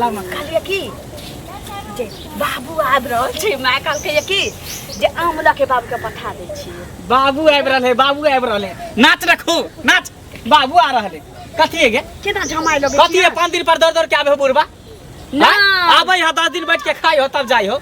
लग में कहलिए कि जे बाबू आबि रहल छै माय कहलकैए कि जे आम लऽ के बाबूके पठा दै छियै बाबू आबि रहल है बाबू आबि रहल है नाच रखू नाच बाबू आ रहल है कथी है गे केना झमाय लगै कथी है पाँच दिन पर दौड़ दौड़ के आबे हो बुढ़बा ना आबै है दस दिन बैठ के खाई हो तब जाई हो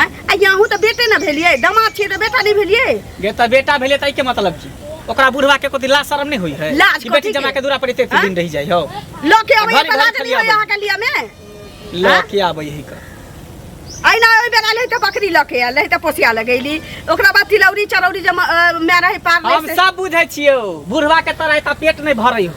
आँय? आ ये अहूँ तऽ बेटे ने भेलियै दामाद छियै तऽ बेटा नहि भेलियै गे तऽ बेटा भेलै तऽ के मतलब की ओकरा बुढ़वा के कोती लाज शरम नहि होई है लाज कि कथी बेटी के? जमा के दूरा पर एते एते आँय? दिन रहि जाइ हो लऽ के अबै घरे- बना घरे देलियै खलिया अहाँके लिए मे लऽ आँय? के आबै है का अहिना ओहि बेर आयल तऽ बकरी लऽ के आयल तऽ पोसिया लगैली ओकरा बाद तिलौरी चरौरी जे म- अ, माय रहै पार हम रहै से- सब बुझै छियौ बुढ़वा के तरह एता पेट नहि भरै हो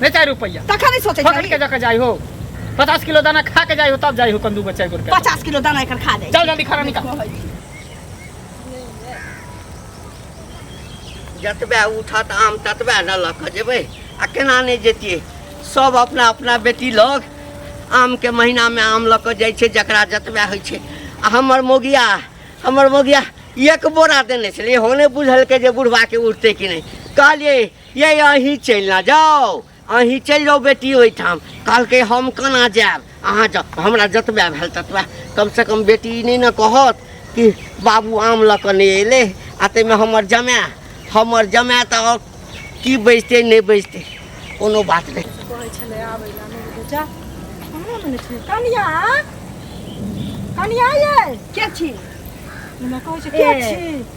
नहीं चार रुपया तखन नहीं सोचे पकड़ के जाकर जाई हो पचास किलो दाना खा के जाई हो तब जाई हो कंदू बच्चा एक रुपया पचास किलो दाना एकर खा जाई चल जल्दी खाना निकाल जतबे उठत आम ततबे न लऽ कऽ जेबै आ केना नहि जैतियै सब अपना अपना बेटी लग आमके महीनामे आम लऽ कऽ जाइ छै जकरा जतबे होइ छै आ हमर मोगिया हमर मोगिया एक बोरा देने छलै हो नहि बुझलकै जे बुढ़बाके उठतै कि नहि कहलियै ये अहीं चलि ना जाओ अहीं चलि जाओ बेटी ओहिठाम कहलकै हम केना जायब अहाँ जाओ हमरा जतबे भेल ततबे कमसँ कम बेटी ई नहि ने कहत कि बाबू आम लऽ कऽ नहि अयलै आ ताहिमे हमर जमाय हमर जमाय तऽ आओर की बजतै नहि बजतै कोनो बात नहि कहै छलै आबै लए नहि बुझै जा कहाँ मने छै कनिया कनिया ये के छी हमरा कहै छै के ए। छी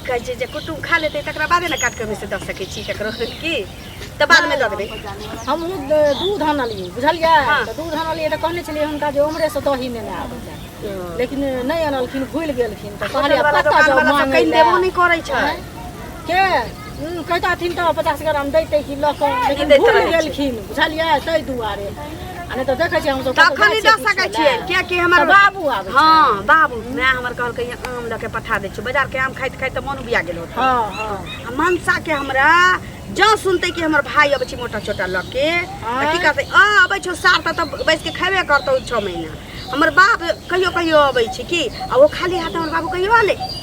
के जे जे कुटुम खा लेतै तकरा बादे ने काटि कऽ ओहिसँ दऽ सकै छी ककरो की तऽ बादमे दऽ देबै हमहूँ द- दूध आनलियै बुझलियै हाँ। तऽ दूध आनलियै तऽ कहने छलियै हुनका जे उम्हरेसँ दही नेने आबै लए लेकिन नहि आनलखिन भूलि गेलखिन तऽ कहलियै होटलवला कतऽ जाउ दोकानवला तऽ मांगै कनि लए? देबो नहि करै छै हैं? के हम्म, कहता हथिन तऽ पचास ग्राम दैते कि लऽ कऽ लेकिन दैत भूलि रहै छै। गेलखिन बुझलियै ताहि दुआरे आ नहि तऽ देखै छियै हमसब कतहु तखन जाइ नहि दऽ छियै सकै किछो छियै लए। कियाकि हमर तऽ बाबू आबै छै। हँ बाबू माय हमर कहलकै "यहाँ आम लऽ के पठा दै छियौ बाजारके आम खाइत खाइत तऽ मन उबिया गेल होत हँ हँ आ मनसाके हमरा जँ सुनतै कि हमर भाय अबै छै मोटा छोटा लऽ के तऽ की आँय? कहतै आ अबै छौ सार तऽ तब बैस के खेबे करतौ छओ महीना हमर बाप कहियो कहियो अबै छै कि आ ओ खाली हाथ हमर बाबू कहियो अलै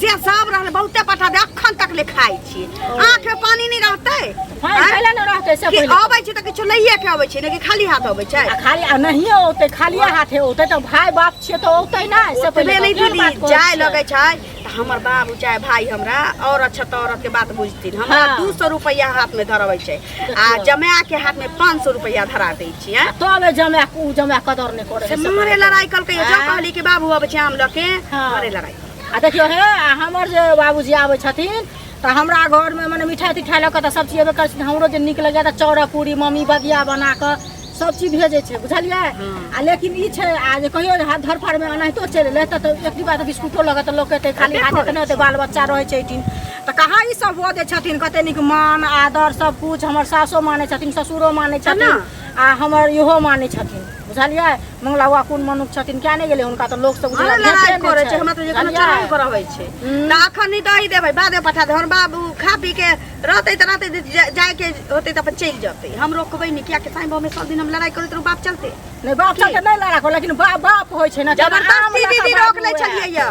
से सब रहल बहुते पठाबे अखन तक ले खाइ छी आँख में पानी नहीं रहते हाँ, आँय? पहिले न रहतै से कि पहिले अबै छी तऽ किछो लैए के अबै छी ने कि खाली हाथ अबै छै आ खाली आ नहियो औतै खालिए हाथे औतै तऽ भाय बाप छियै तऽ औतै नहि से ओतबे पहिले नहि कखन बात दीदी करै जाय छियै? लगै छै तऽ हमर बाबू चाहे भाय हमरा औरत छै तऽ औरत के बात बुझथिन हमरा हाँ। दू सौ रुपैआ हाथ में धरबै छै आ देखियौ। जमाए के हाथ में पाँच सौ रुपैआ धरा दै छियै तबे जमाए कु जमाए कदर नहि करै से है, से मारे पहिले। लड़ाई कलकै जो हाँ। कहली कि बाबू अब जाम लके हाँ। मारे लड़ाई आ देखियो हे आ हमर जे बाबूजी आबै छथिन तऽ हमरा घरमे मने मिठाइ तिठाइ लऽ कऽ तऽ सब चीज अयबे करै छथिन हमरो जे नीक लगैया तऽ चौड़ा पूरी मम्मी बगिया बना कऽ सब चीज भेजै छै बुझलियै आ लेकिन ई छै आ जे कहियो जे हाथ धर फाड़मे एनाहितो चलि एलै तऽ तऽ एक डिब्बा तऽ बिस्कुटो लऽ कऽ तऽ लोक एतै खाली हाथ एतै नहि एतै बाल बच्चा रहै छै एहिठिन तऽ कहाँ ई सब भऽ दै छथिन कते नीक मान आदर सब कुछ हमर सासो मानै छथिन ससुरो मानै छथिन आ हमर इहो मानै छथिन बुझलियै मंगला बाबा कोन मनुख छथिन किया नहि गेलै हुनका तऽ लोक सब हमरा उजरा लड़ाइ भेटले करै नहि छै छै। हमरा तऽ जे कोनो बुझलियै? चलबे करऽ होइ छै हम्म। तऽ अखन नहि दही देबै बादे पठा दे हमर बाबू खा पी के रहतै तऽ रहतै जे- जे- जायके होतै तऽ अपन चलि जेतै हम रोकबै नहि कियाकि साईं बाबू सब दिन हम लड़ाइ करैत रहू बाप चलतै नहि बाप सबके नहि लड़ा लेकिन बाप बाप होइ छै ने जबरदस्ती दीदी रोक लै छलियै यऽ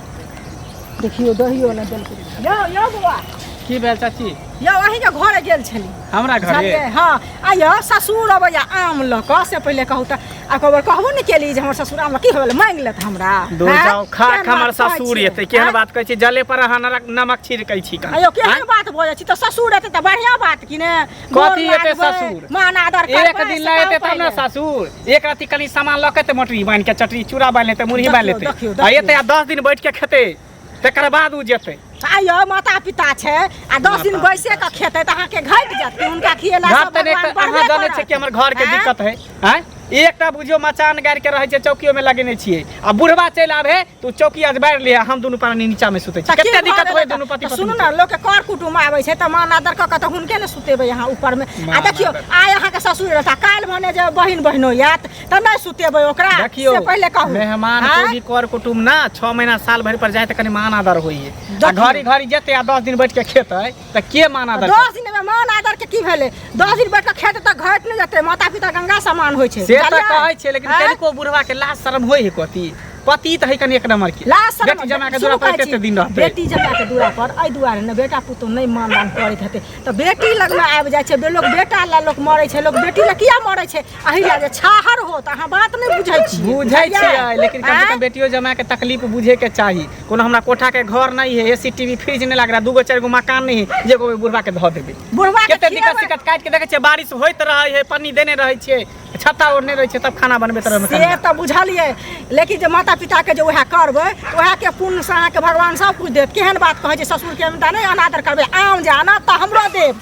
देखियो दहियो ने देलकै यो यो बौआ की भेल चाची यो अही के घरे गेल छली हमरा घरे बुझलियै हाँ आ यो ससुर अबैया आम लऽ कऽ से पहिले कहू तऽ आ कबर कहबो ने केली जे हमर ससुर आम लऽ की होल मांग लेत हमरा दूर हैं? जाओ खा केहन खा हमर बात कहै ससुर छियै? एतै केहन हैं? बात कहै छी जले पर अहाँ नरक- नमक छिड़कै छी का आयो केहन बात भऽ जाइ छी तऽ ससुर एतै तऽ बढ़िया बात कि ने कथी एते ससुर मान आदर कर एक दिन ला एते तब ना ससुर एक राति कनी सामान लऽ के ते मटरी बांध के चटरी चूड़ा बांध लेते मुरही बांध लेते आ एते आ 10 दिन बैठ के खेते तकर बाद उ जेते आयो माता पिता छै आ 10 दिन बैसे के खेते त अहाँ के घट जते उनका खिएला घट त नै अहाँ जाने छै कि हमर घर के दिक्कत है हैं एकटा बुझियो मचान गाड़ि के रहे छै चौकियो में लगेने छियै आ बुढ़वा चलि आबे तऽ ओ चौकी आज बारि ले हम दुनू प्राणी नीचा में सुते छी तऽ की कते भऽ दिक्कत गेलै होय तऽ- दुनू पति तऽ सुनू पत्नी ने लोकके कर कुटुम आबै छै तऽ मान आदर कऽ कऽ तऽ हुनके ने सुतेबै अहाँ ऊपरमे आ मान देखियौ आदर। आइ अहाँके ससुर रहता काल्हि भने जे बहिन बहिनो आयत तऽ नहि सुतेबै ओकरा देखियो से पहिले कहू मेहमान आँय? कोई भी कर कुटुम ना छह महीना साल भरि पर जाए तऽ कनि मान आदर होइए आ देखियौ। घड़ी घड़ी जेते आ दस दिन बैठ के खेतै तऽ के मान आदर दस दिन में मान आदर के की भेले दस दिन बैठ के खेते तक घट नहीं जाते माता पिता गंगा समान होय छे से तऽ कहै छै लेकिन कनिको बुढ़वा के लाज शर्म होय है कथी पति तऽ है कनि एक नंबर के लाज शर्म बेटी जमा के दूरा पर कते दिन रहते बेटी जमा के दूरा पर अइ दुआरे ने बेटा पुतो नहीं मान दान करैत हेते तऽ बेटी लग में आबि जाय छे लोग बेटा ला लोग मरे छे लोग बेटी ला किया मरे छे अहि ला जे छाहर हो तऽ अहाँ बात नहीं बुझै छी बुझै छी लेकिन कम से कम बेटियो जमा के तकलीफ बुझे के चाहिए कोनो हमरा कोठा के घर नहीं है एसी टीवी फ्रिज नहीं लग रहा दूगो चार गो मकान नहीं है जे को बुढ़वा के धो देबे बुढ़वा के केते दिक्कत खियाबे। दिक्कत काट के देखे छे बारिश होइत रहे है पानी देने रहे छे छत्ता ओढ़ने रहे छे तब खाना बनबे तरह से में तऽ बुझलियै लेकिन जे माता पिताके जे उएह करबै तऽ उएहके पुण्यसँ अहाँके भगवान सभ किछु देत केहन बात कहै छै ससुरके हम तऽ नहि अनादर करबै आम जे आना तऽ हमरो देब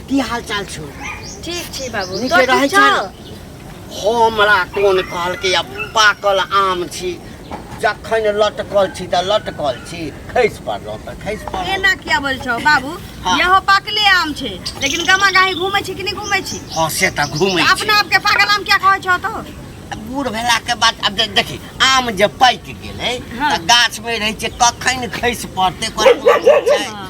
की हाल चाल छौ ठीक छै बाबू नीके तोहर रहै ठीक छौ छै हमरा कोन कहलकै आब पाकल आम छी जखन लटकल छी तऽ लटकल छी खसि पड़लहुँ तऽ खसि पड़लहुँ एना किया बोल छौ बाबू हाँ। यहो पाकले आम छै लेकिन गमा गाही घूमै छी कि नहि घूमै छी हँ से तऽ घूमै तऽ छी अपना आपके पागल आम क्या कहै छौ तो बूढ़ भेलाके बाद आब दे- देखी आम जे पाकि गेलै हाँ। तऽ गाछमे रहै छै कखन खसि पड़तै कोन कोन छै हाँ।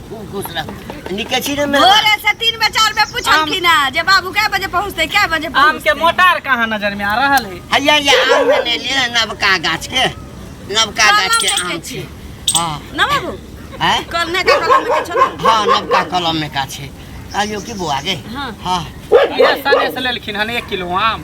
निकची ने भोरे से तीन बजे चार बजे पूछलखिन है जे बाबू कै बजे पहुंचते कै बजे आम पहुंचते के मोटार कहाँ नजर में आ रहल है हैया या आम ने ले लिए नवका गाछ के नवका कलम गाछ के देखे आम छी। छै हां ना बाबू हैं कल ने का कलम के छलो हां नवका कलम में का छै आयो की बुआ गे हाँ। हां ये सने से लेलखिन हन एक किलो आम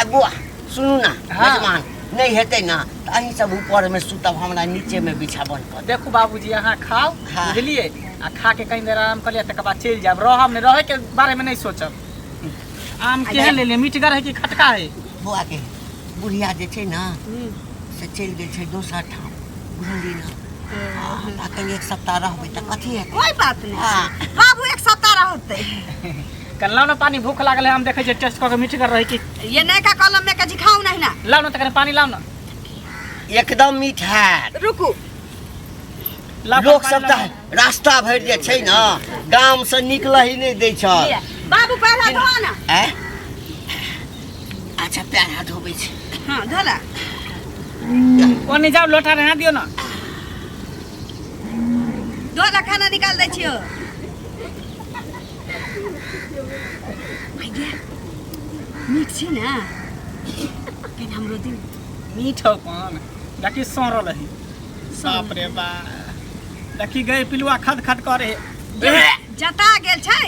ए बुआ सुनू ना हाँ। मेहमान नहीं हेतै ना तऽ अहीं सब ऊपर में सुतब हमरा नीचे में बिछावन कऽ देब। देखू बाबूजी अहाँ खाओ हाँ। बुझलिए आ खा के कहीं देर आराम कर लिया तकर बाद चलि जायब रहब ने रहे के बारे में नहीं सोचब आम केहन ले ले मीठगर है कि खटका है बुआ के बुढ़िया जे छै ना से चलि गेल छै दोसर ठाम बुझली ना हाँ, तऽ अखन एक सप्ताह रहबै तऽ कथी हेतै कोई बात नहीं हाँ। बाबू एक सप्ताह रहते कल्ला ना पानी भूख लागल है हम देखे जे टेस्ट करके मीठ कर रही छी ये नहीं का कलम में कजी खाऊ नहीं ना लाओ ना तकर पानी लाओ ना एकदम मीठा रुकू लाओ लोक पानी सब लाओ। तऽ रास्ता भरि जे छै ने गाम से निकलही नहि दै छ ये, बाबू पहला धो ना आँय? अच्छा पैर हाथ धोबै छै हाँ धोला ओने जाओ लोटा रहा दियो ना धोला खाना निकाल दै छियो नीक छै ने कनि हमरो दिन मीठ हौ पान देखी सड़ल है बाप रे बा देखी गए पिलुआ खद खद करे जता गेल छै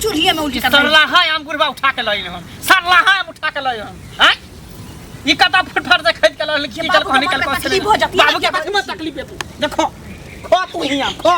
चूल्हिए में उल्टी कर सरला है हम गुरबा उठा के लई हम सरला है हम उठा के लई हम हैं ई कता फटफट से खरीद के लई की चल कहनी कल को तकलीफ हो जाती है बाबू के बात में तकलीफ है देखो खो तू ही हम खो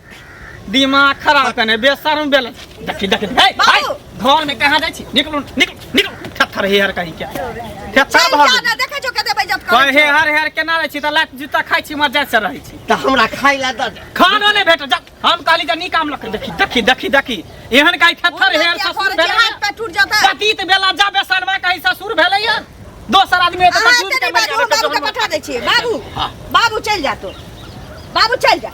दिमाग खराब कने बेशरम बेल देखी देखी हे भाई घर में कहां जाई छी निकलू निकलू निकलू थथर हे हर कहीं के थथर भर ज्यादा देखे छो कते बेइज्जत कहे कहे हर हर केना रहै छी त लात जूता खाइ छी मर जाय से रहै छी त हमरा खाइ ला द खानो नै भेट जा हम कहली जे निकाम लक देखी देखी देखी देखी एहन काई थथर हे ससुर भेलै हाथ पे टूट जाता पतित बेला जा बेसरवा कहि ससुर भेलै या दोसर आदमी त दूध के मजा बाबू के पठा दै छी बाबू बाबू चल जा तो बाबू चल जा